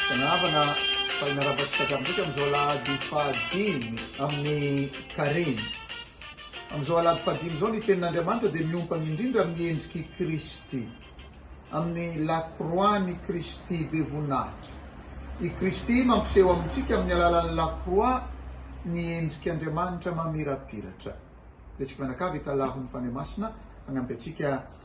Mpianavana, fa hinarava antsika hatramin'ny dika amin'izao alahady fahadimy amin'ny karemy. Amin'izao alahady fahadimy izao ny tenin'Andriamanitra dia miompana indrindra amin'ny endrik'i Kristy, amin'ny la croix-n'i Kristy be voninahitra. I Kristy mampiseho amintsika amin'ny alalan'ny la croix ny endrik'Andriamanitra mamirapiratra. Dia tsika mianakavy hitalaho ny Fanahy Masina hanampy antsika.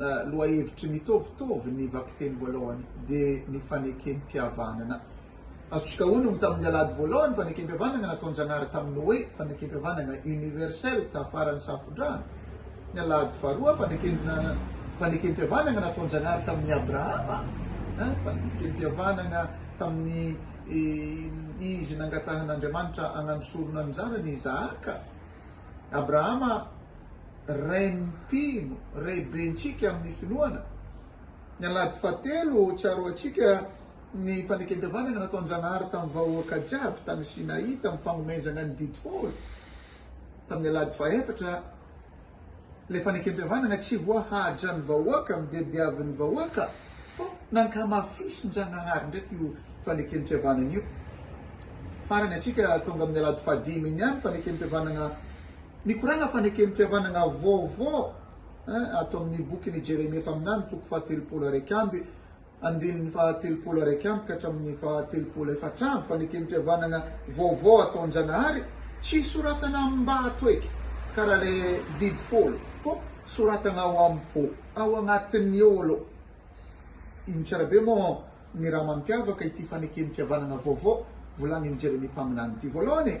lohahevitry ny mitovitovy ny vakiteny voalohany dia ny fanekempihavanana. Azontsika onony tamin'ny alahady voalohany fanekempihavanana nataon-Janahary tamin'ny hoe fanekempihavanana universel tafaran'ny Safodrano. Ny alahady faharoa fanekempihavanana nataon-Janahary tamin'ny Abrahama, fanekempihavanana tamin'ny izy nangatahan'Andriamanitra hagnano sorona ny zanany Isahaka. Abrahama, rain'ny mpino, raibentsika amin'ny finoana. Ny Alahady fahatelo, tsaroantsika ny fanekempihavanana nataon-Janahary tamin'ny vahoaka jiaby tany Sinaï tamin'ny fagnomezana ny Didy Folo. Tamin'ny Alahady fahaefatra, Ilay fanekempihavanana tsy voa haja ny vahoaka amin'ny dia diavin'ny vahoaka fa nankamafisin-Dragnahary ndraiky io fanekempihavanana io. Farany antsika tonga amin'ny alahady fahadimy iny ihany fanekempihavanana mikoragna fanekempihavanana vaovao ato amin'ny bokin'i Jeremia mpaminany toko fahatelopolo araiky amby andininy faha telopolo araiky amby ka hatramin'ny faha telopolo efatra amby, fanekempihavanagna vaovao ataon-Jagnahary, tsy soratana am-bato eky karaha le didy folo fô soratagna ao am-pô, ao agnatin'ny ô alô. Ino tsara be mô ny raha mampiavaka ity fanekempihavanagna vaovao volagnin'i Jeremia mpaminany ity? Vôlôhany,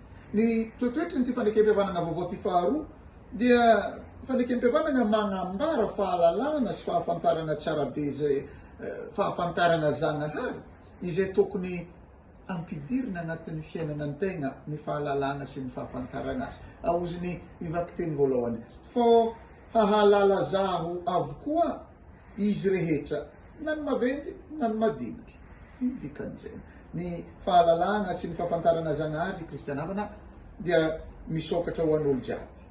Ny toetoetry ity fanekempihavanana vaovao ity faharoa dia fanekempihavanana manambara fahalalana sy fahafantarana tsara be izay fahafantarana Zagnahary izay tokony ampidirina anatin'ny fiainana ny tegna ny fahalalana sy ny fahafantarana azy. Aoziny i vakiteny voalohany, Fô hahalala zaho avokoa. Izy rehetra, na ny maventy na ny madinika. Ino dikan'izany? Ny fahalalahana sy ny fahafantarana Zagnahary Kristiana havana dia misokatra ho an'olo jiaby.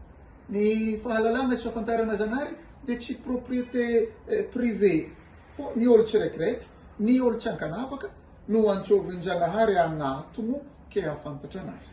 Ny fahalalahana sy fahafantarana Zagnahary dia tsy propriété privée fô ny olo tsirekireky, ny olo tsy ankanavaka no antsôvin-Jagnahary agnatono ke hahafantatra anazy.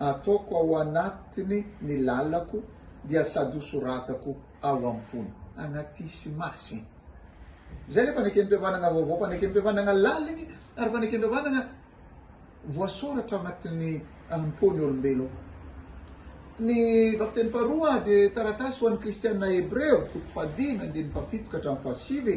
Ataoko ao anatiny ny lalako dia sady ho soratako ao am-pony. Anatisy masy. Izay ilay fanekempihavanana vaovao, fanekempihavanana laliny ary fanekempihavanana voasoratra ao anatin'ny am-pon'ny olombelona. Ny vakiteny faharoa dia taratasy ho an'ny kristiana hebreo, toko fahadimy, andininy fahafito ka hatramin'ny fahasivy.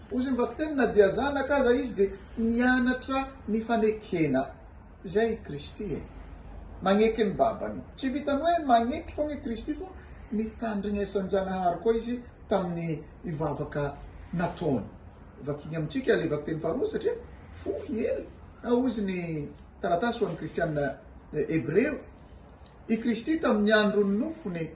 Hoy ny vakiteny, na dia zanaka aza izy dia nianatra ny fanekena. Izay i Kristy e! Magneky ny babany. Tsy vitan'ny hoe magneky foana i Kristy fa nitandrignesan-Janahary koa izy tamin'ny vavaka nataony. Vakiny amintsika ilay vakiteny faharoa satria fohy i Ely. Hoy izy ny taratasy ho an'ny kristiana hebreo, I Kristy tamin'ny andron'ny nofony,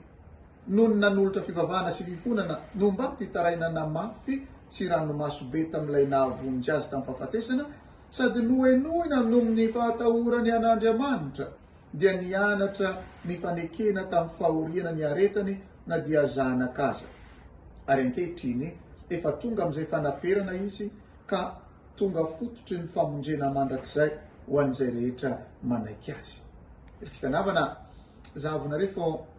noho ny nanolotra fivavahana sy fifonana no mba mpitarainana mafy sy ranomaso be tamin'ilay nahavonjy azy tamin'ny fahafatesana, sady nohenoina noho ny fahatahorany an'Andriamanitra, dia nianatra ny fanekena tamin'ny fahoriana niaretany na dia zanaka aza. Ary ankehitriny, efa tonga amin'izay fanaperana izy, ka tonga fototry ny famonjena mandrakizay ho an'izay rehetra manaiky azy. Ry kisanavana, zahavonareo fa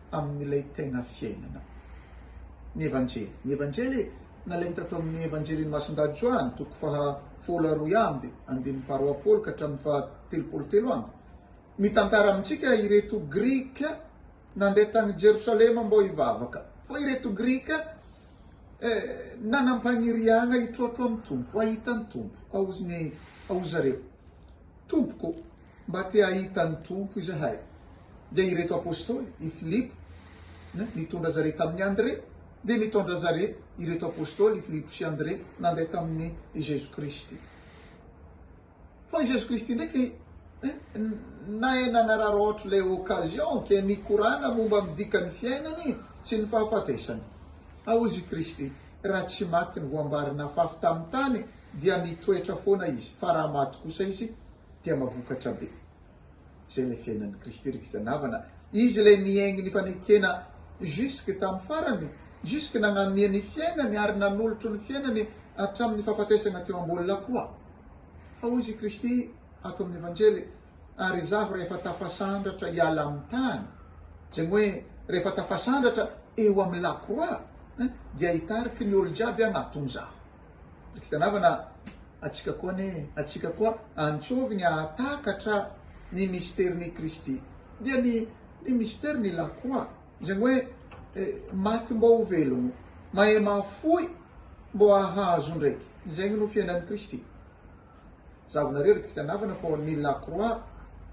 amin'ilay tena fiainana. Ny Evanjely. Ny Evanjely nalainy tato amin'ny Evanjelin'i Masindahy Joany, toko faha folo aroy amby, andininy faha roapolo ka hatramin'ny faha telopolo telo amby, mitantara amintsika ireto Grika nandeha tany Jerosalema mbô hivavaka. Fa ireto Grika eh, nanam-paniriagna hitroatro amin'ny Tompo, hahita ny Tompo, aozy ny aozy zareo. Tompoko. Mba te hahita ny Tompo izahay. Dia ireto Apostoly, i Filipo, na, nitondra zareo tamin'i Andrea, dia nitondra zareo, ireto Apostoly, i Filipo sy Andrea, nandeha tamin'i Jesoa Kristy. Fa i Jesoa Kristy ndraiky, nahay nagnararaotra ilay occasion, ke nikoragna momba ny dikan'ny fiainany sy ny fahafatesany. Ao Izy i Kristy, raha tsy maty ny voambarin'afafy tamin'ny tany, dia nitoetra foana Izy, fa raha maty kosa Izy, dia mahavokatra be. Izay ilay fiainan'i Kristy ry kristiana havana. Izy ilay niaingy ny fanekena jusque tamin'ny farany, jusque nagnamia ny fiainany ary nanolotro ny fiainany hatramin'ny fahafatesana teo am-bolona koa. Fa hoy izy i Kristy ato amin'ny Evanjely, ary izaho rehefa tafasandratra hiala amin'ny tany, izay hoe rehefa tafasandratra eo amin'ny lakroa, dia hitariky ny olo-jiaby aho, ato izaho. Fitsanavana atsika koa anie e! Atsika koa antsovigny ahatakatra ny misterin'i Kristy. Dia ny ny misterin'i Ilah koa, izany hoe maty mbô ho velogno, mahay mahafoy mbô ahazo ndraiky. Izegny no fiainan'i Kristy. Zahavanareo ry Kristianavana fô ny la croix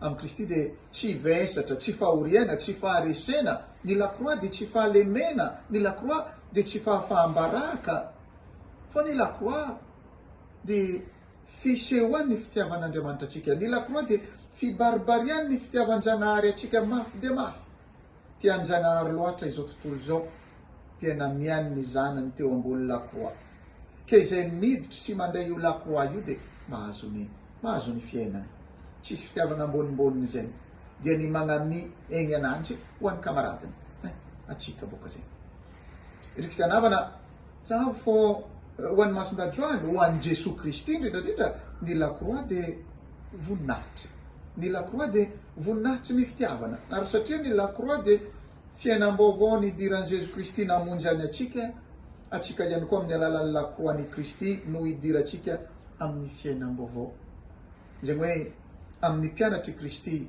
amin'i Kristy dia tsy vesatra, tsy fahoriagna, tsy faharesena, ny la croix dia tsy fahalemena, ny la croix dia tsy fahafaham-baraka, Fa ny La Croix dia fisehoan' ny fitiavan' Andriamanitra antsika. Ny La Croix dia fibaribarian' ny fitiavan-Janahary antsika mafy dia mafy. Tian-Janahary loatra izao tontolo izao dia namiany ny Zanany teo ambony La Croix. Ka izay miditra sy mandray io La Croix io dia mahazo ny mahazo ny fiainana. Tsisy fitiavana ambonimboniny izay. Dia ny magnamia egny ananjy ho an'ny kamaradiny. Hein, antsika boka izay. Ry Kristiana havana, Tsahavo fô ho an'i Masindajoaly, ho an'i Jesoa Kristy indrindra indrindra, ny lakroa dia voninahitra. Ny lakroa dia voninahitry ny fitiavana. Ary satria ny lakroa dia fiainam-baovao nidiran'i Jesoa Kristy namonjy an' antsika, antsika ihany koa amin'ny alalan'ny lakroan'i Kristy no idirantsika amin'ny fiainam-baovao. Izany hoe amin'ny mpianatr'i Kristy.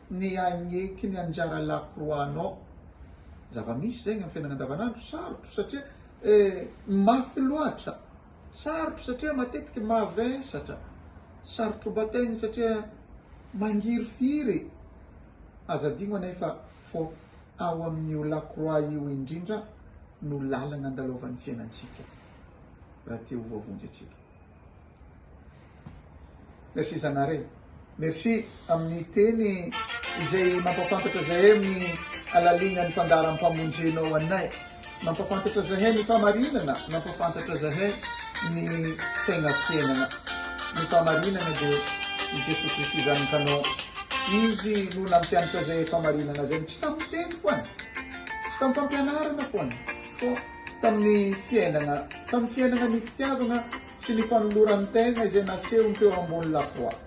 Ny hagneky ny anjara lakroanao. Zava-misy izay ny amin'ny fiainana andavanandro. Sarotro satria mafy loatra. Sarotro satria matetika mavesatra. Sarotro bataigny satria mangirifiry. Aza adino anefa fô ao amin'io lakroa io indrindra no lalagna andalovan'ny fiainantsika raha te ho voavonjy antsika. Merci Zanare. Merci amin'ny teny izay mampafantatra zahay amin'ny halalinan'ny fandaharam-pamonjenao anay. Mampafantatra zahay ny famarinana, mampafantatra zahay ny tegna fiainana. Ny famarinana dia i Jesoa Kristy Zanakanao. Izy no nampianatra zahay famarinana zay, tsy tamin'ny teny foana, tsy tamin'ny fampianarana foana, fa tamin'ny fiainana, tamin'ny fiainana ny fitiavana. sy ny fanolorany tegna izay nasehony teo ambony la croix.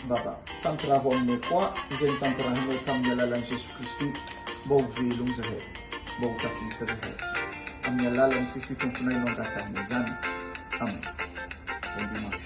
Baba, tantiraho aminay koa izay notantirahinao tamin'ny alalan'i Jesoa Kristy mba ho velogno izahay, mba ho tafita izahay. Amin'ny alalan'i Kristy Tomponay no angatahina izany. Amena. Bon dimanche.